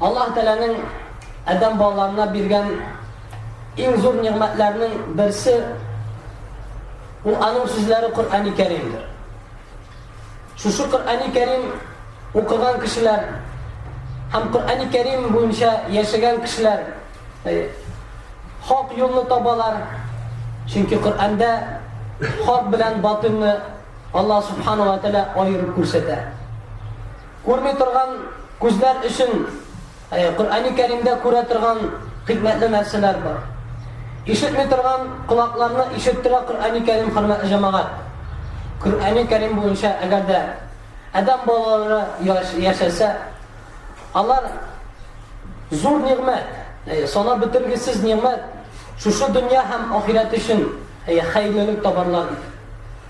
Аллаһ Тәгаләнең адәм балаларына биргән иң зур нигъмәтләрнең берсе ул аның сүзләре Коръәни Кәримдер. Шушы Коръәни Кәрим укыган кешеләр һәм Коръәни Кәрим буенча яшәгән кешеләр э, хак юлны табалар. Чөнки Коръәндә хак белән батылны Аллаһ Субхану ва Тәгалә аерып күрсәтә. Күрми торган күзләр өчен Коръәни Кәримдә күрә торган хикмәтле нәрсәләр бар. Ишетми торган колакларны ишеттерә Коръәни Кәрим хөрмәтле җәмәгать. Коръәни Кәрим буенча әгәр дә адәм балалары яшәсә, алар зур нигъмәт, э, сана бетергесез нигъмәт, шушы дөнья һәм ахирәт өчен э, хәерлелек табарлар.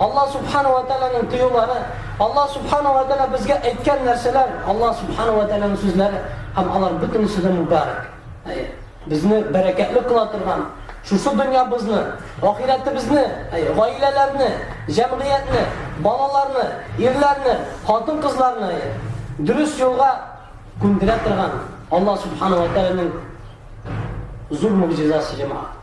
Аллаһ Субхана уә Тәгаләнең тыюлары, Аллаһ Субхана уә Тәгалә безгә әйткән нәрсәләр, Аллаһ Субхана уә Тәгаләнең сүзләре, һәм алар бөтенесе дә мубарак. Әйе, безне бәрәкәтле кыла торган, шушы дөньябызны, ахирәтебезне, әйе, гаиләләрне, җәмгыятьне, балаларны, ирләрне, хатын-кызларны дөрес юлга күндерә торган Аллаһ Субхана уә Тәгаләнең зур мөгъҗизасы җәмәгать.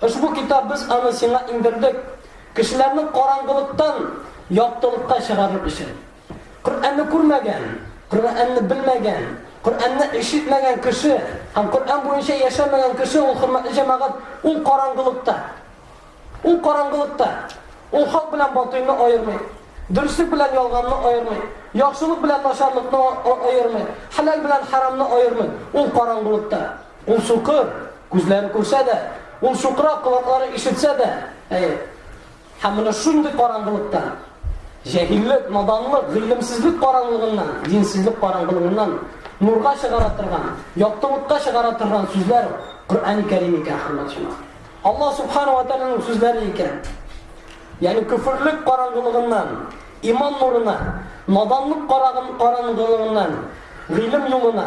Ошбу китап без аны сиңа иңдердек, кешеләрне караңгылыктан яктылыкка чыгарыр өчен. Коръәнне күрмәгән, Коръәнне белмәгән, Коръәнне ишетмәгән кеше һәм Коръән буенча яшәмәгән кеше ул хөрмәтле җәмәгать, ул караңгылыкта. Ул караңгылыкта. Ул хак белән батыйны аермый. Дөреслек белән ялганны аермый. Яхшылык белән начарлыкны аермый. Хәләл белән хәрамны аермый. Ул караңгылыкта. Ул сукыр, күзләре күрсә дә, ул сукырак колаклары ишетсә дә, әйе. Һәм менә шундый караңгылыктан, җәһиллек, наданлык, гыйлемсезлек караңгылыгыннан, динсезлек караңгылыгыннан нурга чыгара торган, яктылыкка чыгара торган сүзләр Коръәни Кәрим икән, хөрмәтле Алла субхана ва тааляның сүзләре икән. Ягъни күферлек караңгылыгыннан, иман нурына, наданлык карагын караңгылыгыннан, гыйлем юлына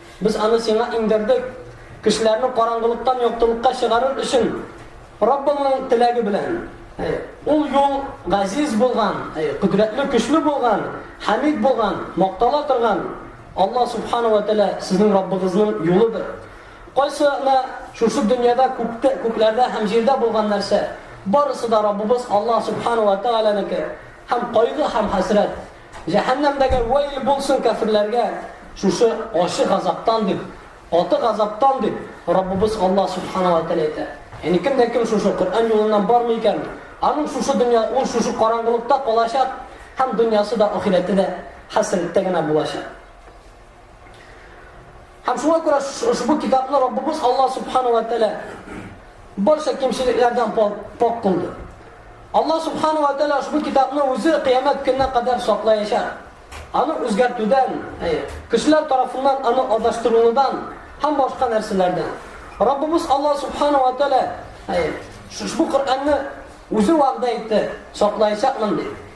Без аны сиңа иңдердек, кешеләрне караңгылыктан яктылыкка чыгарыр өчен, Раббыңның теләге белән. Ул юл газиз булган, кодрәтле, көчле булган, хәмид булган, мактала торган Алла субхана ва тәала сезнең Раббыгызның юлыдыр. Кайсына шушы дөньяда күктә, күкләрдә һәм җирдә булган нәрсә, барысы да Раббыбыз Алла субхана ва тәаланыкы һәм кайгы һәм хәсрәт Җәһәннәмдәге вәйл булсын кәферләргә шушы ачы газаптан дип, каты газаптан дип, Раббыбыз Аллаһ Субхана ва Тәгалә әйтә. Яни кем дә кем шушы Коръән юлыннан бармый икән, аның шушы дөнья, ул шушы караңгылыкта калачак һәм дөньясы да, ахирәте дә хәсрәттә генә булачак. Һәм шуңа күрә ошбу китапны Раббыбыз Аллаһ Субхана вә Тәгалә барча кимчелекләрдән пакь кылды. Аллаһ Субхана вә Тәгалә ошбу китапны үзе кыямәт көненә кадәр саклаячак. Аны үзгәртүдән, кешеләр тарафыннан аны адаштырылудан һәм башка нәрсәләрдән. Раббыбыз Аллаһ Субхана вә Тәгалә ошбу Коръәнне үзе вәгъдә итте, саклаячакмын дип.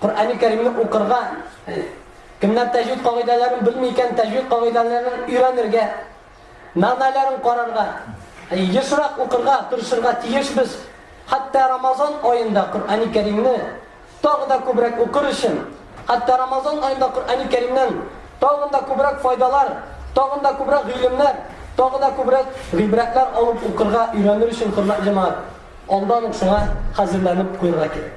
Коръәни Кәримне укырга, кемнәр тәҗвид кагыйдәләрен белми икән, тәҗвид кагыйдәләрен өйрәнергә, мәгънәләрен карарга, ешрак укырга тырышырга тиешбез. Хәтта Рамазан аенда Коръәни Кәримне тагы да күбрәк укыр өчен, хәтта Рамазан аенда Коръәни Кәримнән тагын да күбрәк файдалар, тагын да күбрәк гыйлемнәр, тагы да күбрәк гыйбрәтләр алып укырга, өйрәнер өчен, хөрмәтле җәмәгать, алдан ук шуңа хәзерләнеп куярга кирәк.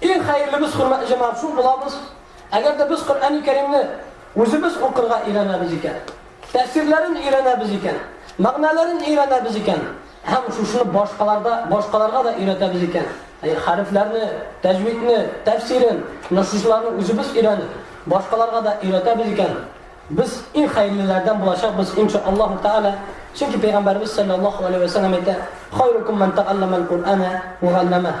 Иң хәерлебез, хөрмәтле җәмәгать, шул булабыз. Әгәр дә без Коръәни Кәримне үзебез укырга өйрәнәбез икән, тәфсирләрен өйрәнәбез икән, мәгънәләрен өйрәнәбез икән һәм шушыны башкаларда, башкаларга да өйрәтәбез икән, әй, хәрефләрне, тәҗвидне, тәфсирен, насыйсларны үзебез өйрәнеп, башкаларга да өйрәтәбез икән, без иң хәерлеләрдән булачакбыз, инша Аллаһу тәгалә. Чөнки пәйгамбәребез салләллаһу алейһи вә сәлләм әйтә, Хайрукум мән тәгалләмәл Коръәнә вә галләмәһ.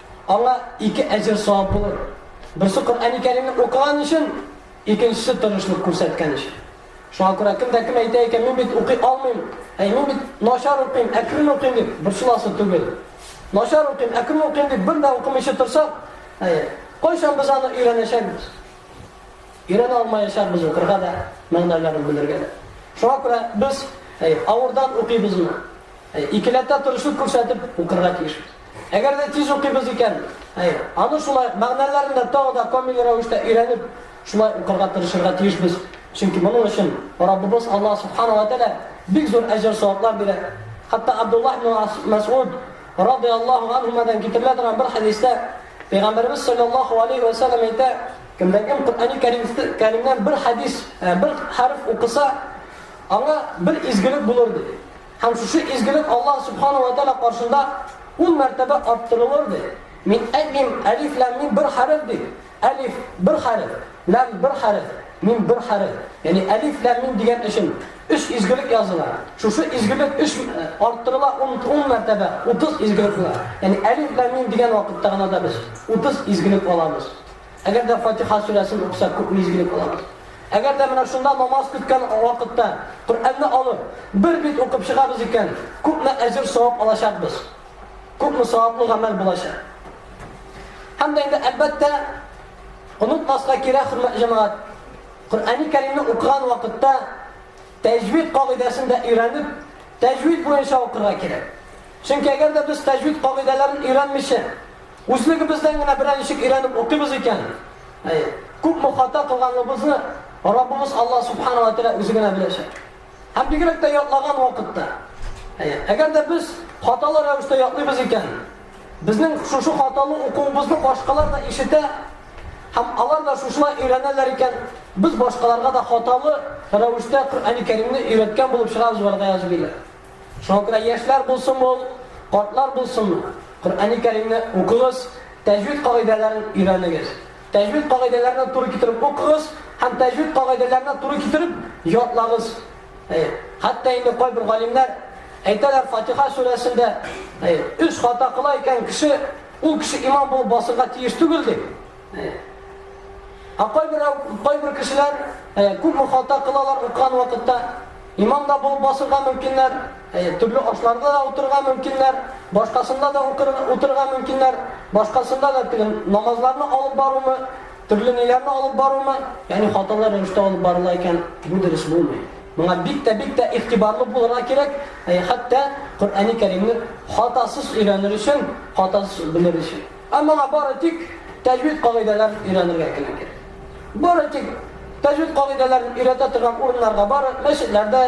Аңа ике әҗер-савап булыр. Берсе Коръәни Кәримне укыган өчен, икенчесе тырышлык күрсәткән өчен. Шуңа күрә кем дә кем әйтә икән, мин бит укый алмыйм, әй мин бит начар укыйм, әкрен укыйм дип, борчыласы түгел. Начар укыйм, әкрен укыйм дип бер дә укымыйча торсак, әй, кайчан без аны өйрәнәчәкбез? Өйрәнә алмаячакбыз укырга да, мәгънәләрен белергә дә. Шуңа күрә без әй, авырдан укыйбызмы? Әй, икеләтә тырышлык күрсәтеп укырга тиешбез. Әгәр дә тиз укыйбыз икән, аны шулай ук мәгънәләрен дә тагы да камил рәвештә өйрәнеп, шулай укырга тырышырга тиешбез. Чөнки моның өчен Раббыбыз Аллаһ Субхана ва Тәгалә бик зур әҗер-саваплар бирә. Хәтта Абдуллаһ ибн Мәсгуд радый Аллаһу анһумадан китерелә торган бер хәдистә Пәйгамбәрбез саллаллаһу алейһи вә сәлләм әйтә, кемдә кем Коръәни Кәримнән бер хәдис, бер хәреф укыса, аңа бер изгелек булыр ди. Һәм шушы изгелек Аллаһ Субхана вә Тәгалә каршында ун мәртәбә арттырылыр, ди. Мин әйтмим, әлиф, ләм, мим бер хәреф, дип. Әлиф, бер хәреф, ләм, бер хәреф, мим, бер хәреф. Ягъни әлиф, ләм, мим дигән өчен өч изгелек языла. Шушы изгелек өч арттырыла ун, ун мәртәбә, утыз изгелек була. Ягъни әлиф, ләм, мим дигән вакытта гына да без утыз изгелек алабыз. Әгәр дә Фатиха сүрәсен укыса, күпме изгелек булыр? Әгәр дә менә шунда намаз көткән вакытта Коръәнне алып, бер бит укып чыгабыз икән, күпме әҗер-савап алачакбыз? Күпме саваплы гамәл булачак? Һәм дә инде, әлбәттә, онытмаска кирәк, хөрмәтле җәмәгать, Коръәни Кәримне укыган вакытта тәҗвид кагыйдәсен дә өйрәнеп, тәҗвид буенча укырга кирәк. Чөнки әгәр дә без тәҗвид кагыйдәләрен өйрәнмичә, Үзлегебездән генә берәр ничек өйрәнеп укыйбыз икән, күпме хата кылганыбызны Раббыбыз Аллаһ Субхана ва Тәгалә үзе генә беләчәк. Һәм бигрәк тә ятлаган вакытта. Әгәр дә без хаталы рәвештә ятлыйбыз икән, безнең шушы хаталы укуыбызны башкалар да ишетә, һәм алар да шушылай өйрәнәләр икән, без башкаларга да хаталы рәвештә Коръәни Кәримне өйрәткән булып чыгабыз, вәлгаяз билләһ. Шуңа күрә яшьләр булсынмы ул, картлар булсынмы, Коръәни Кәримне укыгыз, тәҗвид кагыйдәләрен өйрәнегез. Тәҗвид кагыйдәләренә туры китереп укыгыз һәм тәҗвид кагыйдәләренә туры китереп ятлагыз. Әй, хәтта инде кайбер галимнәр әйтәләр Фатиха сүрәсендә, әй, өч хата кыла икән кеше, ул кеше имам булып басырга тиеш түгел дип. Ә кайбер кайбер кешеләр күпме хата кылалар укыган вакытта, Имам да булып басырга мөмкиннәр, төрле ашларда да утырырга мөмкиннәр, башкасында да утырырга мөмкиннәр, башкасында да теге намазларны алып барумы, төрле ниләрне алып барумы, ягъни хаталы рәвештә алып барыла икән, бу дөрес булмый. Моңа бик тә бик тә игътибарлы булырга кирәк, хәтта Коръәни Кәримне хатасыз өйрәнер өчен, хатасыз белер өчен. Ә моңа бары тик тәҗвид кагыйдәләр өйрәнергә генә кирәк. Бары тик тәҗвид кагыйдәләрен өйрәтә торган урыннарга бары мәчетләрдә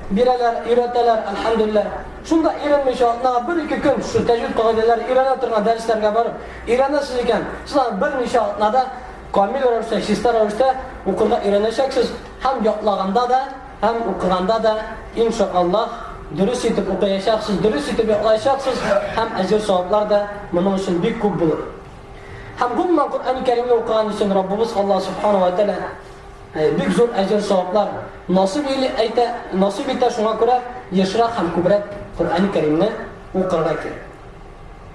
бирәләр, өйрәтәләр, әлхәмдүлилләһ. Шунда иренмичә атнага бер-ике көн шул тәҗвид кагыйдәләре өйрәнә торган дәресләргә барып өйрәнәсез икән, сез аны берничә атнада камил рәвештә, чиста рәвештә укырга өйрәнәчәксез һәм ятлаганда да, Һәм укыганда да, ин ша Аллаһ, дөрес итеп укыячаксыз, дөрес итеп йоклаячаксыз, һәм әҗер-саваплар да моның өчен бик күп булыр. Һәм гомумән Коръән Кәримне укыган өчен Раббыбыз Аллаһ Субхана ва Тәгалә э, бик зур әҗер-саваплар насыйп иле әйтә, насыйп итә шуңа күрә ешрак һәм күбрәк Коръән Кәримне укырга кирәк.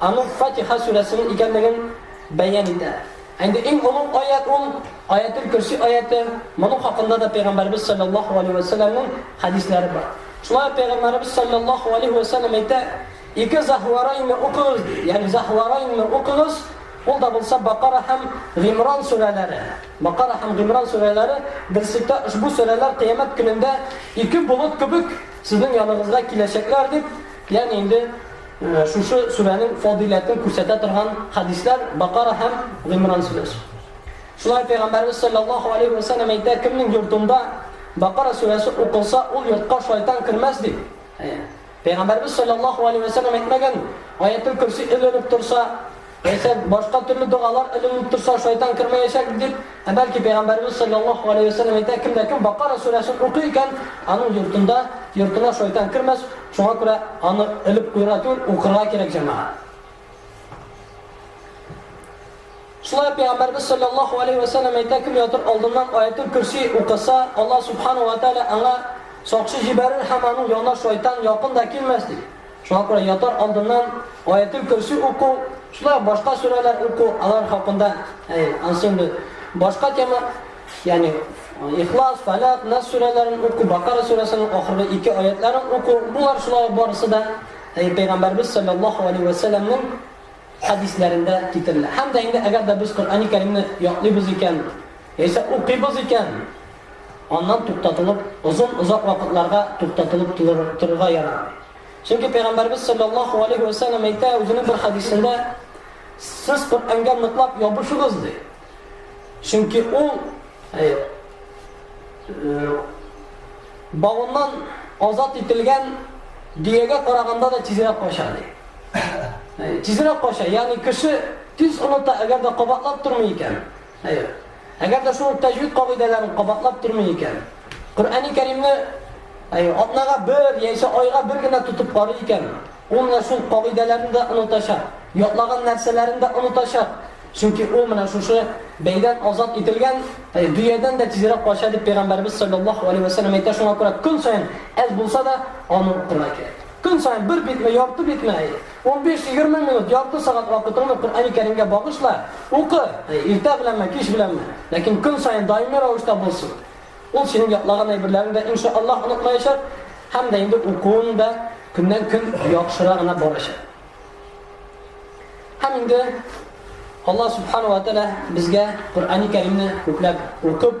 Аның Фатиха сүрәсенең икәнлеген бәян итә. Ә инде иң олуг аять ул, Аятел көрси аяте, моның хакында да пәйгамбәребез салләллаһу галәйһи вә сәлләмнең хәдисләре бар. Шулай ук пәйгамбәребез салләллаһу галәйһи вә сәлләм әйтә, Ике Заһварайнны укыгыз, ди. Ягъни Заһварайнны укыгыз, ул да булса Бакара һәм Гыймран сүрәләре. Бакара һәм Гыймран сүрәләре берсектә ошбу сүрәләр кыямәт көнендә ике болыт кебек сезнең яныгызга киләчәкләр, дип, ягъни инде, Шушы сүрәнең фадыйләтен күрсәтә торган хәдисләр Бакара һәм Гыймран сүрәсе. Шулай Пәйгамбәрбез салләллаһу алейһи вә сәлләм әйтә, кемнең йортында Бакара сүрәсе укылса, ул йортка шайтан кермәс дип. Пәйгамбәрбез салләллаһу алейһи вә сәлләм әйтмәгән, Аятел көрси эленеп торса, Әйсән, башка төрле догалар эленеп торса, шайтан кермәячәк, дип. Ә бәлки, пәйгамбәребез салләллаһу галәйһи вә сәлләм әйтә, кем дә кем Бакара сүрәсен укый икән, аның йортында, йортына шайтан кермәс, шуңа күрә аны элеп куярга түгел, укырга кирәк, җәмәгать. Шулай ук пәйгамбәребез салләллаһу галәйһи вә сәлләм әйтә, кем ятыр алдыннан Аятул Көрси укыса, Аллаһ субхана вә тәгалә аңа сакчы җибәрер һәм аның янына шайтан якын да килмәс, ди. Шуңа күрә ятар алдыннан Аятел-Көрси уку, шулай ук башка сүрәләр уку, алар хакында, әй, ансы инде башка тема, ягъни Ихлас, Фәләк, Нас сүрәләрен уку, Бакара сүрәсенең ахыргы ике аятларын уку, булар шулай ук барысы да әй, Пәйгамбәрбез саллаллаһу алейһи вә сәлләмнең хәдисләрендә китерелә. Һәм дә инде әгәр дә без Коръәни Кәримне ятлыйбыз икән, яисә укыйбыз икән, Аннан туктатылып, озын-озак вакытларга туктатылып торырга ярамый. Чөнки Пәйгамбәрбез салләллаһу алейһи вә сәлләм әйтә үзенең бер хәдисендә, Сез Коръәнгә ныклап ябышыгыз, ди. Чөнки ул бавыннан азат ителгән биягә караганда да тизрәк кача, ди. Тизрәк кача, ягъни кеше тиз оныта, әгәр дә кабатлап тормый икән. Хәер. Әгәр дә шул ук тәҗвид кагыйдәләрен кабатлап тормый икән, Коръәни Кәримне әйе, атнага бер яисә айга бер генә тотып карый икән, ул менә шул кагыйдәләрне дә онытачак, ятлаган нәрсәләрен дә онытачак, чөнки ул менә шушы бәйдән азат ителгән әйе, дөядән дә тизрәк кача, дип Пәйгамбәребез салләллаһу галәйһи вә сәлләм әйтә, шуңа күрә көн саен әз булса да аны укырга кирәк. Көн саен бер битме, ярты битме, әйе, Унбиш-егерме минут, ярты сәгать вакытыңны Коръәни Кәримгә багышла, укы, иртә беләнме, кич беләнме, ләкин көн саен даими рәвештә булсын. Ул синең ятлаган әйберләреңне дә, инша Аллаһ, онытмаячак һәм дә инде укуың да көннән-көн яхшыра гына барачак. Һәм инде Аллаһ Субхана ва Тәгалә безгә Коръәни Кәримне күпләп укып,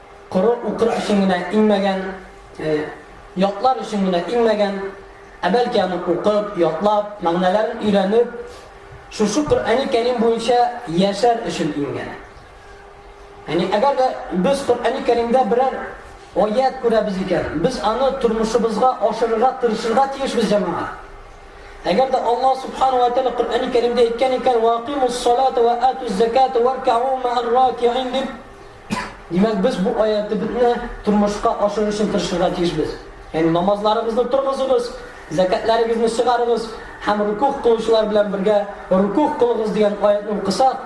Коры укыр өчен генә иңмәгән, ятлар өчен генә иңмәгән, ә бәлки аны укып, ятлап, мәгънәләрен өйрәнеп, шушы Коръәни Кәрим буенча яшәр өчен иңгән. Яни әгәр дә без Коръәни Кәримдә берәр аять күрәбез икән, без аны тормышыбызга ашырырга тырышырга тиешбез, җәмәгать. Әгәр дә Аллаһ Субхана ва Тәгалә Коръәни Кәримдә әйткән икән, ва акимус салата ва атуз заката варкау маәр ракиин дип, Димәк, без бу аятебезне тормышка ашырыр өчен тырышырга тиешбез. Ягъни намазларыгызны торгызыгыз, зәкатларыгызны чыгарыгыз һәм рукух кылучылар белән бергә рукух кылыгыз дигән аятьне укысак,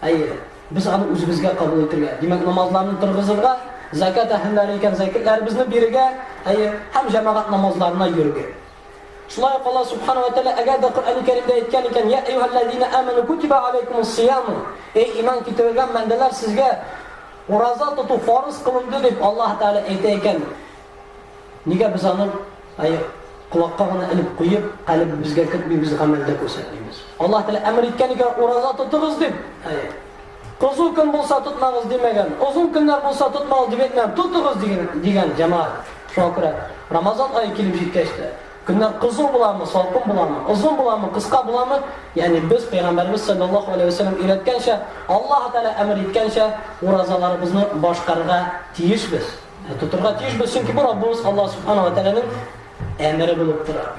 әйе, без аны үзебезгә кабул итергә, димәк, намазларны торгызырга, зәкат әһелләре икән, зәкатларыбызны бирергә, әйе, һәм җәмәгать намазларына йөрергә. Шулай ук Аллаһ Сүбхәнә вә Тәгалә әгәр дә Коръәни Кәримдә әйткән икән, Йә әйюһәлләзина әмәну кутибә аләйкумуссыяму, Эй иман китерелгән бәндәләр, сезгә ураза тоту фарыз кылынды, дип Аллаһ Тәгалә әйтә икән, нигә без аны колакка гына элеп куеп, калебебезгә кертмибез, гамәлдә күрсәтмибез? Аллаһ Тәгалә әмер иткән икән, ураза тотыгыз дип. Озын көн булса тотмагыз димәгән, озын көннәр булса тотмагыз дип әйтмәгән, тотыгыз диген, дигән, җәмәгать. Шуңа күрә Рамазан ае килеп җиткәч тә, көннәр кызу буламы, салкын буламы, озын буламы, кыска буламы, ягъни без Пәйгамбәребез салләллаһу галәйһи вә сәлләм өйрәткәнчә, Аллаһы Тәгалә әмер иткәнчә уразаларыбызны башкарырга тиешбез. Ә тотырга тиешбез, чөнки бу Раббыбыз Аллаһ Субхана вә Тәгаләнең әмере булып тора.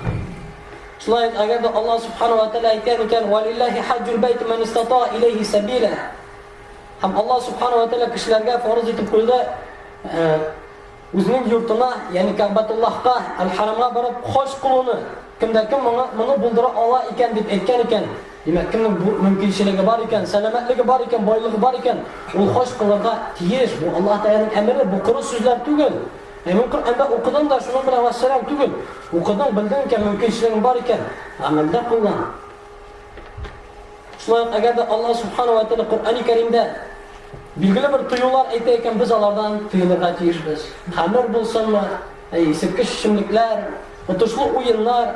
Шулай ук, әгәр дә Аллаһ Субхану ва Тәгалә әйткән икән, "Валиллахи хаҗҗул бәйт ман истата илейхи сабила". Һәм Аллаһ Субхану ва Тәгалә кешеләргә фарыз итеп куйды, э, үзенең йортына, ягъни Кәббатуллаһка, Аль-Харамга барып хаҗ кылуны, кемдә кем моны, моны булдыра ала икән дип әйткән икән, димәк, кемнең бу мөмкинчелеге бар икән, сәламәтлеге бар икән, байлыгы бар икән, ул хаҗ кылырга тиеш. Бу Аллаһ Тәгаләнең әмере, бу коры сүзләр түгел. Әйе, Коръәндә укыдың да, шуның белән вәссәлам түгел. Укыдың, белдең икән, мөмкинчелегең бар икән, гамәлдә куллан. Шулай ук, әгәр дә Аллаһ Субхана ва Тәгалә Коръәни Кәримдә билгеле бер тыюлар әйтә икән, без алардан тыелырга тиешбез. Хәмер булсынмы, исерткеч эчемлекләр, отышлы уеннар,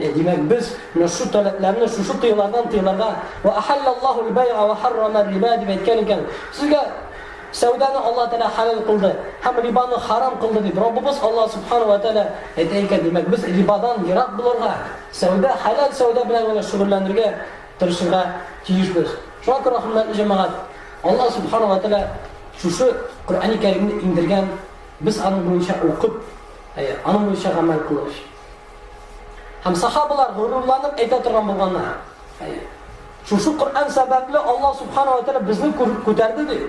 Димәк, без нәшү таләпләрне шушы тыелардан тыелырга, Вә әхәллә Аллаһу әл-бәйгә вә хәррама әр-риба дип әйткән икән. Сезгә сәүдәне Аллаһ Тәгалә хәләл кылды һәм рибаны харам кылды дип Раббыбыз Аллаһ Сүбхәнәһү вә Тәгалә әйтә икән. Димәк, без рибадан ерак булырга, сәүдә, хәләл сәүдә белән генә шөгыльләнергә тырышырга тиешбез. Шуңа күрә, хөрмәтле җәмәгать, Аллаһ Сүбхәнәһү вә Тәгалә шушы Коръәни Кәримне иңдергән, без аның буенча укып, әйе, аның буенча гамәл кылыйк. Һәм сахабалар горурланып әйтә торган булганнар. Әйе. Шушы Коръән сәбәпле Аллаһ Субхана ва Тәгалә безне күтәрде ди.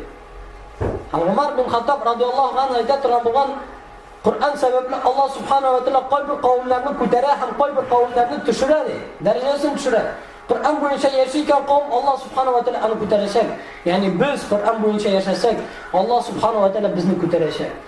Һәм Гомар бин Хаттаб радиаллаһу анһу әйтә торган булган Коръән сәбәпле Аллаһ Субхана ва Тәгалә кайбер кавемнәрне күтәрә һәм кайбер кавемнәрне төшерә ди. Дәрәҗәсен төшерә. Коръән буенча яши икән кавем Аллаһ Субхана ва Тәгалә аны күтәрәчәк. Ягъни без Коръән буенча яшәсәк, Аллаһ Субхана ва Тәгалә безне күтәрәчәк.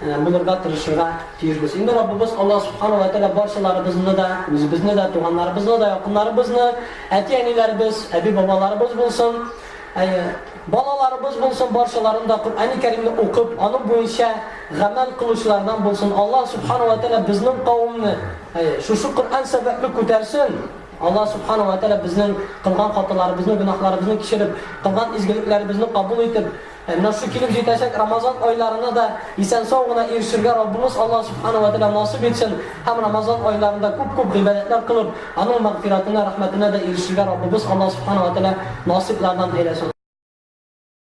Булырга тырышырга тиешбез. Инде Раббыбыз Аллаһ Субхана уә Тәгалә барчаларыбызны да, үзебезне дә, туганнарыбызны да, якыннарыбызны, әти-әниләребез, әби-бабаларыбыз булсын, әйе, балаларыбыз булсын, барчаларын да Коръәни Кәримне укып, аның буенча гамәл кылучылардан булсын. Аллаһ Субхана уә Тәгалә безнең кавемне, әйе, шушы Коръән сәбәпле күтәрсен. Аллаһ Субхана уә Тәгалә безнең кылган хаталарыбызны, гөнаһларыбызны кичереп, кылган изгелекләребезне кабул итеп, Ә нәсел килеп җитәчәк Рамазан айларына да исән-сау гына ирешергә Раббыбыз Аллаһ Субхана ва Тәгалә насыйп итсен һәм Рамазан айларында күп-күп гыйбадәтләр кылып, Аның мәгъфирәтенә, рәхмәтенә дә ирешергә Раббыбыз Аллаһ Субхана ва Тәгалә насыйплардан әйләсен.